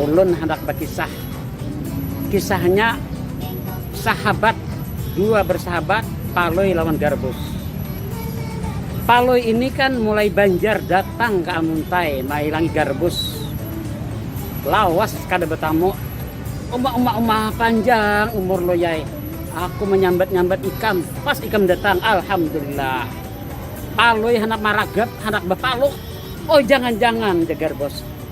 Ulun handak bakisah. Kisahnya sahabat, dua bersahabat Palui lawan Garbus. Palui ini kan mulai banjar datang ke Amuntai mailangi Garbus. Lawas kada betamu. Uma uma uma panjang umur loyai. Aku menyambat-nyambat ikam, pas ikam datang, alhamdulillah. Palui handak maragap, handak bapaluk. Oh jangan-jangan, jagar bos.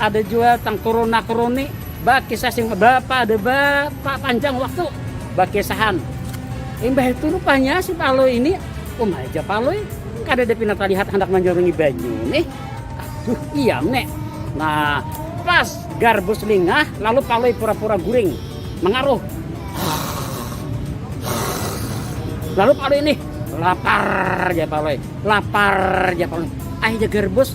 Ada jua tang kuruna-kuruni bakisah sing bapada ba, pa, panjang waktu bakisahan. Imbah itu rupanya si Palui ini um aja Palui kada ada pina talihat handak manjurungi banyu nih. Aduh iya me. Nah pas garbus lingah lalu Palui pura-pura guring mangaruh. Lalu Palui ini lapar ja Palui, lapar ja Palui. Akhirnya garbus